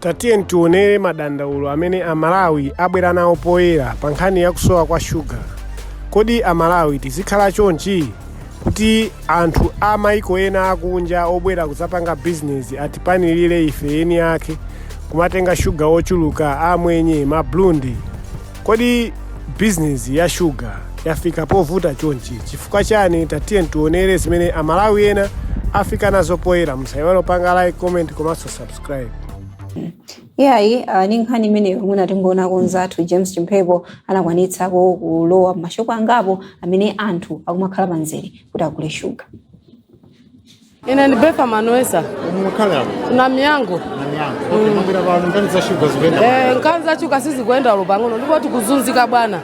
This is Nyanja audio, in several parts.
Tatiyeni tionere madandaulo amene Amalawi abwera nawo poyera pa nkhani ya kusowa kwa shuga. Kodi Amalawi tizikhala chonchi? Kuti anthu a maiko ena akunja obwera kudzapanga bizinezi atipanilire ife eni ake kumatenga shuga wochuluka, amwenye, maburundi? Kodi bizinezi ya shuga yafika povuta chonchi chifukwa chani? Tatiyeni tionere zimene Amalawi ena afika nazo poyera. Musaiwale kupanga like, comment komanso subscribe. subscribe iyayi uh, ni nkhani imeneyo mwina tingoonako nzathu james chimphepo anakwanitsako kulowa mashopu angapo amene anthu akumakhala pamzere kuti agule shuga ine ndi befa manwesa mukhala na miyango nanyango okay mumvira pano nkhani za shuga zikuenda Eh, nkhani za shuga sizikuenda olo pang'ono ndipo tikuzunzika bwana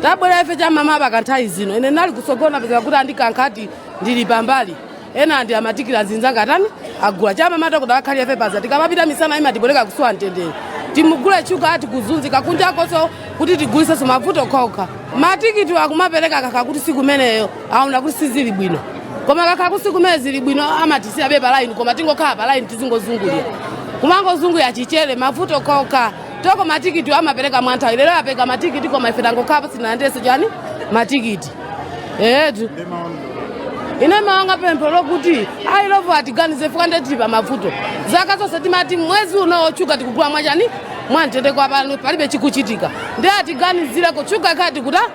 tabwera ife cha mmawa mpaka nthawi zino ine ndinali kusogola pezeka kuti andikankha kuti ndili pambali ena ndi amatikiti azinzanga atani agula cha mmawa kuti akhala ife paja tikamapita misana imatipweteka kusowa mtendere timugule shuga tikuzunzika kunjakonso kuti tigulisenso mavuto okhaokha matikiti akumapereka kakhala kuti siku imeneyo aona kuti sizili bwino koma kakhala kuti siku imene zili bwino amatisiyabe palaini koma tingokhala palaini tizingozungulira kumangozungulira chabe mavuto okhaokha toko matikiti amapereka mwanthawi lero apereka matikiti koma ife tangokhalapo sitinalandirenso chani matikiti etu ine mwanga pempho lokuti a Illovo atiganize chifukwa nde tili pa mavuto zaka zonse timati mwezi uno shuga tikugula mwachani mwamtendere koma pano palibe chikuchitika ndi atiganizireko shuga ikhale kuta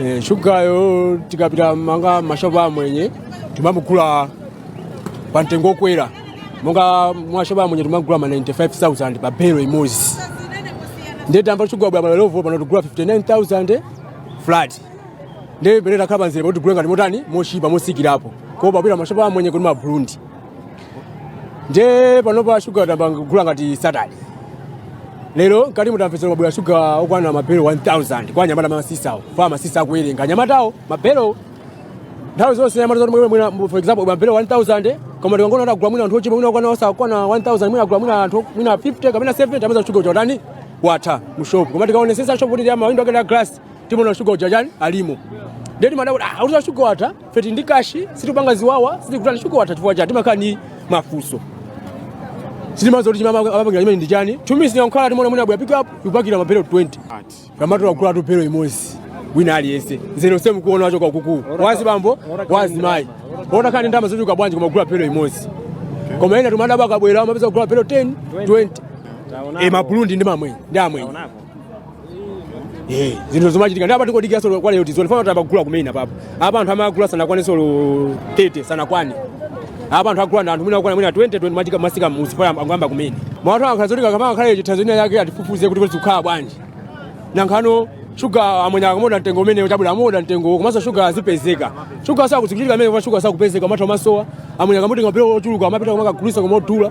Eh, shugayo tikapita monga mashopu amwenye timamugula pa mtengo okwera monga mashopu amwenye timagula ma 95000 pa belo imodzi ndiye tamva shuga wabwera wa Illovo pano tigula 59000 flat ndiye pamene takhala pamzere pakuti tigule ngati motani mochipa motsikirapo kuposa kupita mashopu amwenye kuti maburundi nde panopa shuga tayamba kugula ngati Saturday lero ngati mutamvetsera wabwera shuga okwana mabelo 1000 kwa anyamata masisawo fa masisa akuwerenga anyamatawo mabelo nthawi zonse anyamata zoti mwina- mwina for example mabelo 1000 koma tikangoona kuti agula mwina anthu ochepa mwina okwana osakwana 1000 mwina agula mwina anthu mwina 50 kapena 70 amatiuza shuga uja utani watha mu shop koma tikaonesesa shop kuti ndi amawindo ake ndi a glass timaona shuga uja chani alimo ndeti madabwa kuti atiuza shuga watha feti ndi kashi sitipanga ziwawa sitikutani shuga watha chifukwa chati timakhala ndi mafunso sitimadziwa kuti chimene amapangira zimenezi ndi chani chumi sinankhala timaona mwina abwera pick up ikupakira mabelo 20 kamatola kugula belo imodzi wina aliyense mzere semu kuona wacho kwa kuku wa azibambo wa azimai onse ali ndi ndalama zochuluka bwanji koma kugula belo imodzi koma ena timadabwa akabwera amapeza kugula mabelo 10 20 e maburundi ndi mamwe ndi amwe Eh, zinthu zomachitika ndi apa tikudikira solo kwa lero tizoni fana tabagula kumene apapo apa anthu agula sanakwane solo 30 sanakwane apa anthu agula ndi anthu mwina akwana mwina 20 20 mpaka masika musi fana angamba kumene mwathu akhala zoti kama akhala chithanzo ina yake atifufuzire kuti kuti kukhala bwanji nanga shuga amwenye akamadula mtengo umene chabwera amoda mtengo komanso shuga azipezeka shuga sakupezeka amene kwa shuga sakupezeka matha masowa amwenye akamutenga mabelo ochuluka amapita kumakagulisa modula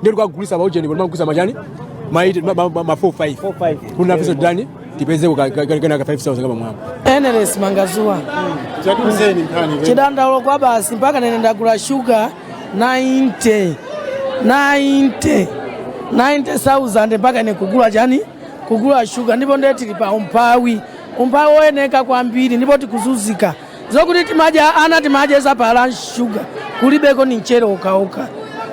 ndiye tikagulisa pa ujeni koma kugulisa ma chani ma 8 ma- ma- ma- ma 4 5 4, five. kuti nafenso titani tipeze ku ka- ka- ka- kena ka 5000 kama mwamva Eneles mangazuwa tatiuzeni nkhani kwe. chidandaulo kwa basi mpaka nene ndagula shuga 90 90 90000 mpaka ine kugula chani kugula shuga ndipo ndiye tili pa umphawi umphawi woyeneka kwambiri ndipo tikuzunzika zokuti timadya ana timadya za phala shuga kulibeko ndi mchere okhaokha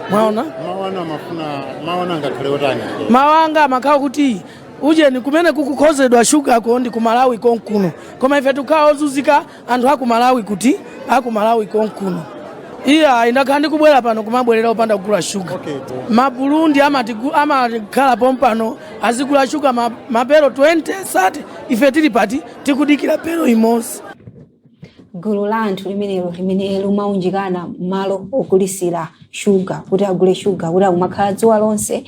mwaona mawana amafuna mawana angakhale otani mawanga amakhala kuti ujeni kumene kukukonzedwa shugako ndi kumalawi konkuno koma ife tikukhala ozunzika anthu akumalawi kuti akumalawi konkuno ineyo ndakhala ndikubwera pano kumabwerera opanda kugula shuga maburundi amatigu- amakhala pompano azigula shuga ma- mabelo 20 30 ife tili pati tikudikira belo imodzi gulu la anthu limenelo limene limaunjikana mmalo ogulisira shuga kuti agule shuga kuti akumakhala dzuwa lonse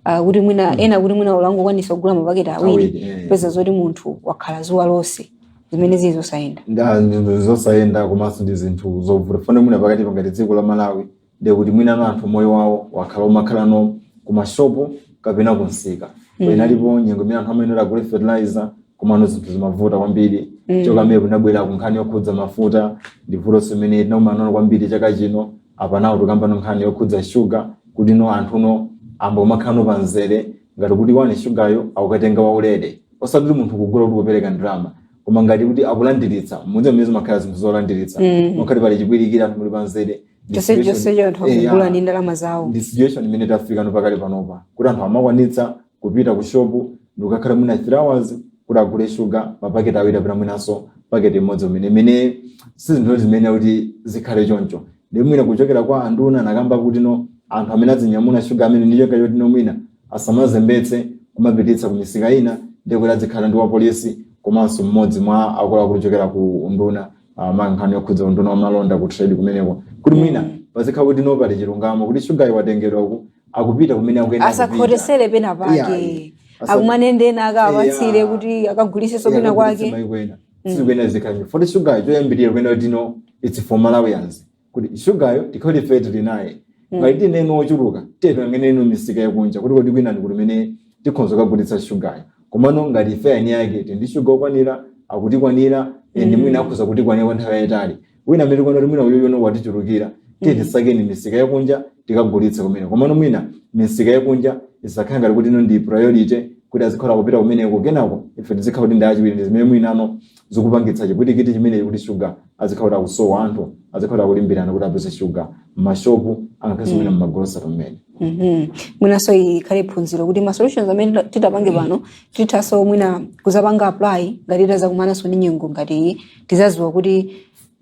ah, kuti mwina ena kuti mwina ungokwanitsa kugula mapaketi awiri Awiri, eh. kupeza zoti munthu wakhala dzuwa lonse zimene zili zosayenda Nga- ndi zosayenda komanso ndi zinthu zovuta fane mwina pakati pa ngati dziko la malawi ndiye kuti mwinano anthu moyo wawo wakhala omakhala no kumashopu kapena kumsika mm. inalipo nyengo imene anthu amayenera agule fertilizer komano zinthu zimavuta kwambiri mm. kuchoka pamene kunabwera kunkhani yokhudza mafuta ndi vutonso imene tinakumana nalo kwambiri chaka chino apa nawo tikambano nkhani yokhudza shuga kuti no anthu no ayamba kumakhalano pa mzere ngati kuti mwina shugayo akukatenga waulere osati kuti munthu kugula kuti kupereka ndalama koma ngati kuti akulandiritsa mudzi amene zimakhala zinthu zolandiritsa mm. makhala pali chipwirikiti anthu muli pa mzere chonse Situation- chonsecho anthu Eh, akugula yeah. ndi ndalama zawo ndi situation imene tafika no pakali panopa kuti anthu amakwanitsa kupita ku shopu ndikukakhala mwina 3 hours kuti agule shuga mapaketi awiri kapena mwinanso paketi imodzi umene zimene si zinthu zimene kuti zikhale choncho ndi mwina kuchokera kwa anduna anakamba kuti no anthu amene azinyamula shuga amene ndi cholinga choti no mwina asamazembetse kumapititsa ku misika ina ndi kuti azikhala ndi wapolisi komanso mmodzi mwa akuluakulu ochokera ku unduna ah, ma nkhani yokhudza unduna wa malonda ku trade kumeneko kuti mwina pazikhala kuti no pali chilungamo kuti shugayu watengedwa uku akupita kumene akuyenera kupita. asakhotetsere pena Yeah, pake asa- akumane ndi ena akawapatsire Yeah. kuti akagulitsenso pena kwake maiko ena sizikuyenera zikhale poti shugayu choyambirira kuyenera kuti no its for malawians kuti shugayo tikhale ife tili naye Mm. ngati tili naye ochuluka tiye tiyang'anenino misika yakunja kuti kodi kwina ndi kuti kumene tikhonza kukagulitsa shugayo komano ngati ife eni ake tili ndi shuga okwanira akutikwanira nde Mm. mwina akhoza kutikwanira kwa nthawi yayitali wina amene tikuona kuti mwina uyoyono watichulukira tiyeni Mm. tisakeni misika yakunja tikagulitse kumene komano mwina misika yakunja isakhale ngati kutino ndi priority kuti azikhala kupita kumeneko kenako ife tizikhala kuti ndife achiwiri ndi zimene mwinano zikupangitsa chipwirikiti chimenechi kuti shuga azikhala kuti akusowa anthu azikhala kuti akulimbirana kuti apeze shuga m'mashopu angakhazi mwina m'magolosero mmene Mhm. mwinanso ikhale phunziro kuti ma solutions amene tita- titapange pano tithanso mwina kuzapanga apply ngati tazakumananso ndi nyengo ngati iyi tizaziwa kuti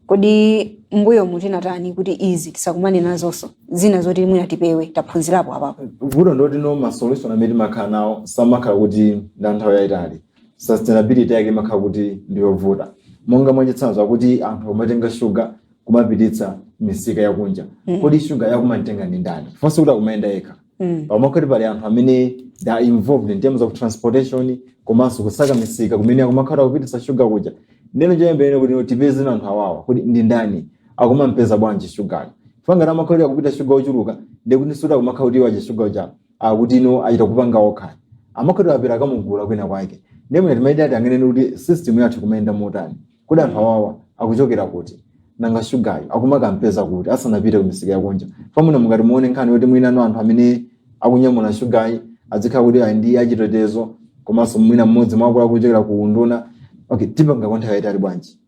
kodi mbuyomu tinatani kuti izi tisakumane nazonso zina zoti mwina tipewe taphunzirapo apapo vuto ndi lotino masolution amene timakhala nawo samakhala kuti ndi anthawi yayitali sustainability yake imakhala kuti ndi yovuta monga mwachitsanzo akuti anthu akumatenga shuga kumapititsa misika yakunja Mm. kodi shuga akumamutenga ndi ndani chifukwa sikuti akumayenda yekha Mm. pamakhala kuti pali anthu amene they are involved in terms of transportation komanso kusaka misika kumene akumakhala kupititsa shuga kuja ndeno choyambirira kuti tipeze anthu awawa kuti ndi ndani akumampeza bwanji shugayo chifukwa ngati amakhala kuti akupita shuga ochuluka ndikuti sikuti akumakhala kuti aja shuga uja akutino achita kupanga okha amakhala kuti apita akamugula kwina kwake ndiye mwina timayenera tiyang'anenso kuti system yathu ikumayenda motani kodi anthu awawa akuchokera kuti nanga shugayo akumakampeza kuti asanapite ku misika yakunja chifukwano mukati muone nkhani yoti mwinano anthu amene akunyamula shugayo azikhala kuti ali ndi achitetezo komanso mwina mmodzi mwa akuluakulu ochokera ku unduna okay tipanga kwa nthawi yayitali bwanji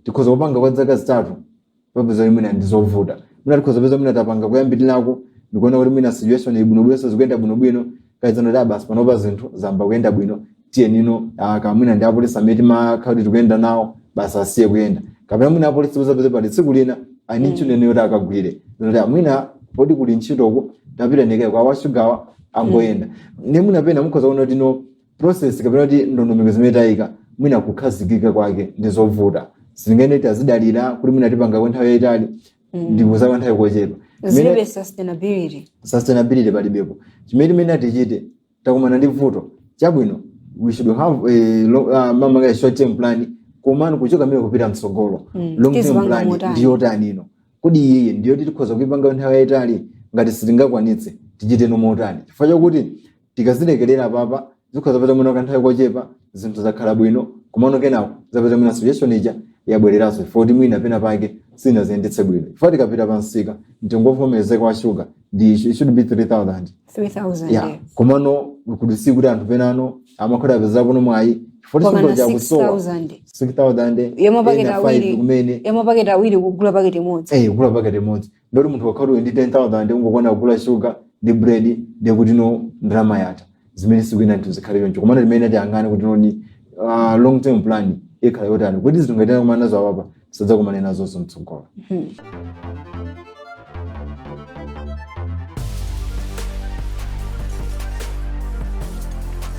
tikhoza kupanga kwa zaka zitatu tipeza kuti mwina ndi zovuta mwina tikhoza peza mwina tapanga kuyambirirako ndikuona kuti mwina situation ili bwinobwino zikuyenda bwinobwino kazano ndi basi panopa zinthu zamba kuyenda bwino tiyenino aka mwina ndi apolisi amene timakhala kuti tikuyenda nawo basi asiye kuyenda kapena mwina apolisi tipeza peza pali tsiku lina ali ndi ntchito ina yoti akagwire zinotia mwina poti kuli ntchitoku tapita ndiye kaya awashugawa angoyenda nde mwina pena mukhoza kuona kutino process kapena kuti ndondomeko zimene tayika mwina kukhazikika kwake ndi zovuta sitinganene tazidalira kuti mwina tipanga kwa nthawi yayitali ndi zikhoza kwa nthawi kochepa Imene- zilibe sustainability sustainability palibepo chimene timene tichite takumana ndi vuto chabwino we should have a long, uh, mama kaya short term plan komano kuchoka mmene kupita mtsogolo Mm, long term tizipanga plan motani? ndi yotanino kodi iyiyi ndi yoti tikhoza kuipanga nthawi yayitali ngati sitingakwanitse tichiteno motani chifukwa chakuti tikazilekerera apapa zikhoza zapeza mwina kanthawi kochepa zinthu zakhala bwino komano kenako zapeza mwina situation ija yabwereranso chifukwa kuti mwina pena pake sinaziyendetse bwino poti tikapita pa msika mtengo wovomerezeka wa shuga ndi it should be 3000 3000 yeah. yeah. komano kudziwa kuti anthu penano amakhoza apeza kuno mwayi poti shuga uja kusowa 6,000. 6000 ya mapaketi ena awiri. 5 kumene ya mapaketi awiri kugula paketi imodzi eh kugula paketi imodzi ndoti munthu ukakhala uli ndi 10000 ndi kungokwana kugula shuga ndi bread ndi kuti no ndalama yatha zimene sizikuyenera kuti zikhale choncho komano timayenera tiyang'ane kuti noni ah, long term plan ikhala yotani kuti zinthu ngati takumana nazo apapa tisadzakumane nazonso mtsogolo